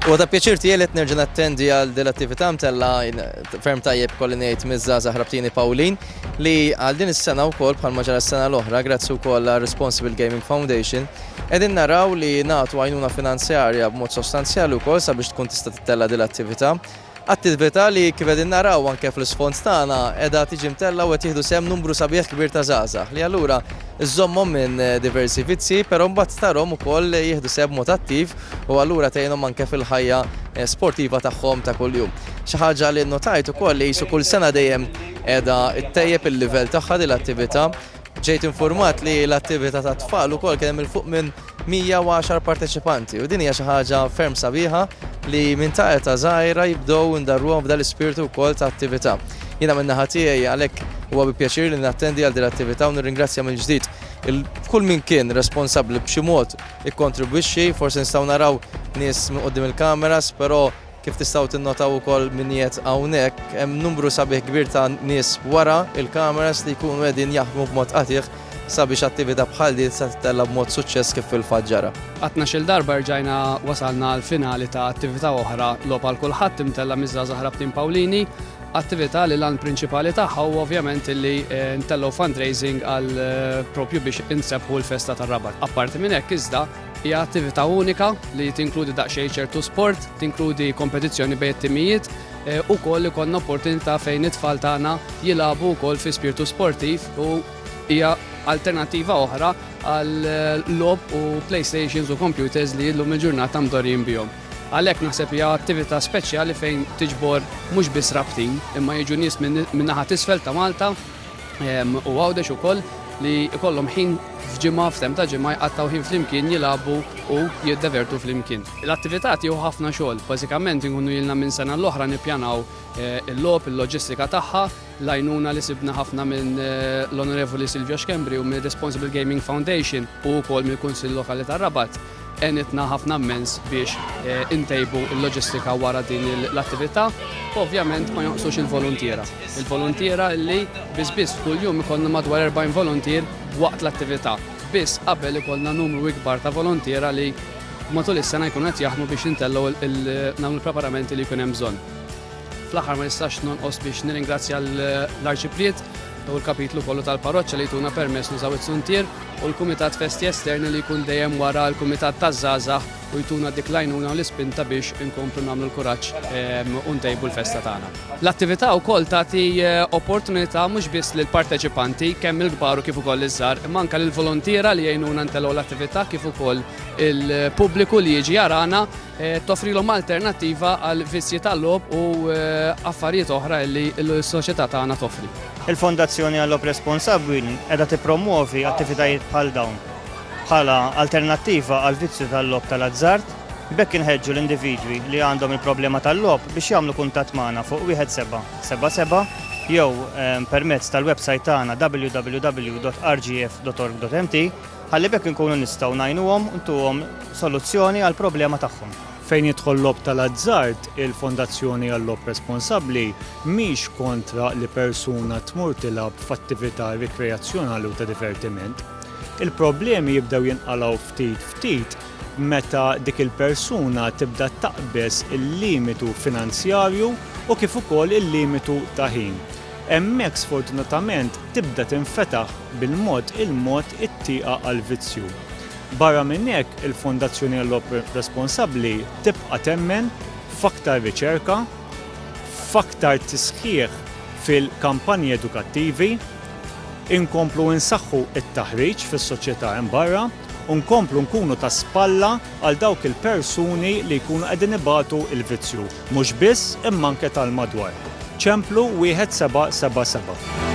U ta' pjaċir tiegħi li nerġa' nattendi għal din l-attività mtella ferm tajjeb kolli ngħid miż-żgħażagħ Rabtini Pawlin li għal din is-sena wkoll bħal ġara s-sena l-oħra grazzi wkoll għal Responsible Gaming Foundation qegħdin naraw li nagħtu għajnuna finanzjarja b'mod sostanzjali wkoll sabiex tkun tista' tittella' din l-attività. Attività li, kif qegħdin naraw anke fl-isfond tagħna, qiegħda tiġi mtellgħa u qed jieħdu sehem numru sabiħ kbir ta' żgħażagħ, li allura żżommhom minn diversi vizzji, però mbagħad tarhom ukoll jieħdu sehem b'mod attiv u allura tgħinhom anke fil-ħajja sportiva tagħhom ta' kuljum. Xi ħaġa li nnotajt ukoll li qisu kull sena dejjem qiegħda ttejjeb il-livell tagħha din l-attività. Ġejt infurmat li l-attività ta' tfal ukoll kien hemm il fuq minn 110 parteċipanti u din hija xi ħaġa ferm sabiħa li minn ta' eta żgħira jibdew indarruhom f'dan l-ispirtu wkoll ta' attività. Jiena minn naħa tiegħi għalhekk huwa bi pjaċir li nattendi għal din l-attività u nirringrazzja mill-ġdid kull min kien responsabbli b'xi mod ikkontribwixxi, forsi nistgħu naraw nies minn qudiem il-kameras, però Kif tistgħu tinnotaw ukoll min qiegħed hawnhekk, hemm numru sabiħ kbir ta' nies wara il-kameras li jkunu qegħdin jaħdmu b'mod qatigħ sabiex attività bħal din tista' tittella' b'mod suċċess kif fil-fatt ġara. Għat-tnax-il darba rġajna wasalna għall-finali ta' attività oħra, Logħob għal Kulħadd, imtella' miż-żgħażagħ Rabtin Pawlini, attività li l-għan prinċipali tagħha huwa ovvjament li ntellgħu fundraising għal propju biex insebbħu l-festa tar-Rabat. Apparti minn hekk iżda, Hija attività unika li tinkludi daqsxejn ċertu sport, tinkludi kompetizzjoni bejn it-timijiet, eh, ukoll ikollna opportunità fejn it-tfal tagħna jilagħbu wkoll fi spirtu sportiv u hija alternattiva oħra għal eh, lob u playstations u computers li llum il-ġurnata mdorjin bihom. Għalhekk naħseb hija attività speċjali fejn tiġbor mhux biss rabtin imma jiġu nies minn naħa tisfel ta' Malta u Għawdex ukoll li jkollhom ħin f'ġimgħa, f'temp ta' ġimgħa jqattgħu ħin flimkien jilagħbu u jiddevertu flimkien. L-attività tieħu ħafna xogħol. Bażikament inkunu ilna minn sena l-oħra nippjanaw il-logħob, il-loġistika tagħha, l-għajnuna li sibna ħafna minn l-Onorevoli Silvio Schembri u mir-Responsible Gaming Foundation u wkoll mill-Kunsill Lokali tar-Rabat. Għenitna ħafna mmens biex intejbu l-loġistika wara din l-attività u ovvjament ma jonqsux il-voluntiera. Il-voluntiera li biss biss f'kull jum ikollna madwar 40 voluntier waqt l-attività. Biss qabel ikollna numru ikbar ta' voluntiera li matul is-sena jkunu qed jaħdmu biex intellgħu nagħmlu l-preparamenti li jkun hemm bżonn. Fl-aħħar ma nistax nonqos biex nirringrazzja l-Arċipriet u l-kapitlu kollu tal-parroċċa li jtuna permess nużaw it-suntier u l-Kumitat Festi Esterni li jkun dejjem wara l-Kumitat taż-Żgħażagħ u jtuna dik l-għajnuna u l-ispinta biex inkomplu nagħmlu l-kuraġġ ehm, u ntejbu l-festa tagħna. L-attività wkoll tagħti eh, opportunità mhux biss lil parteċipanti kemm il-kbar u kif ukoll iż-żgħar, imma anke lill-volontiera li jgħinuna ntelgħu l-attività kif ukoll il-pubbliku li jiġi jarana toffrilhom alternattiva għal vizzji tal-logħob u affarijiet oħra li s-soċjetà tagħna toffri. Il-Fondazzjoni għal-Logħob Responsabbli qiegħda tippromwovi attivitajiet bħal dawn bħala alternattiva għall-vizzju tal-logħob tal-azzard, b'hekk inħeġġu l-individwi li għandhom il-problema tal-logħob biex jagħmlu kuntatt magħna fuq 1777 jew permezz tal-websajt tagħna www.rgf.org.mt. Ħalli b'hekk inkunu nistgħu ngħinuhom u ntuhom soluzzjoni għall-problema tagħhom. Fejn jidħol l-logħob tal-azzard, il-Fondazzjoni għal-Logħob Responsabbli mhix kontra li persuna tmur tilgħab f'attività rikreazzjonali u ta' divertiment. Il-problemi jibdew jinqalgħu ftit ftit meta dik il-persuna tibda taqbeż il-limitu finanzjarju u kif ukoll il-limitu ta' ħin. Hemmhekk sfortunatament, tibda tinfetaħ bil-mod il-mod it-tieqa għall-vizzju. Barra minn hekk, il-Fondazzjoni Ellop Responsabbli tibqa' temmen f'aktar riċerka, f'aktar tisħiħ fil-kampanji edukattivi, inkomplu nsaħħu t-taħriġ fis-soċjetà hemm barra u nkomplu nkunu ta' spalla għal dawk il-persuni li jkunu qegħdin ibatu l-vizzju, mhux biss imma anke tal-madwar. Ċemplu 1777.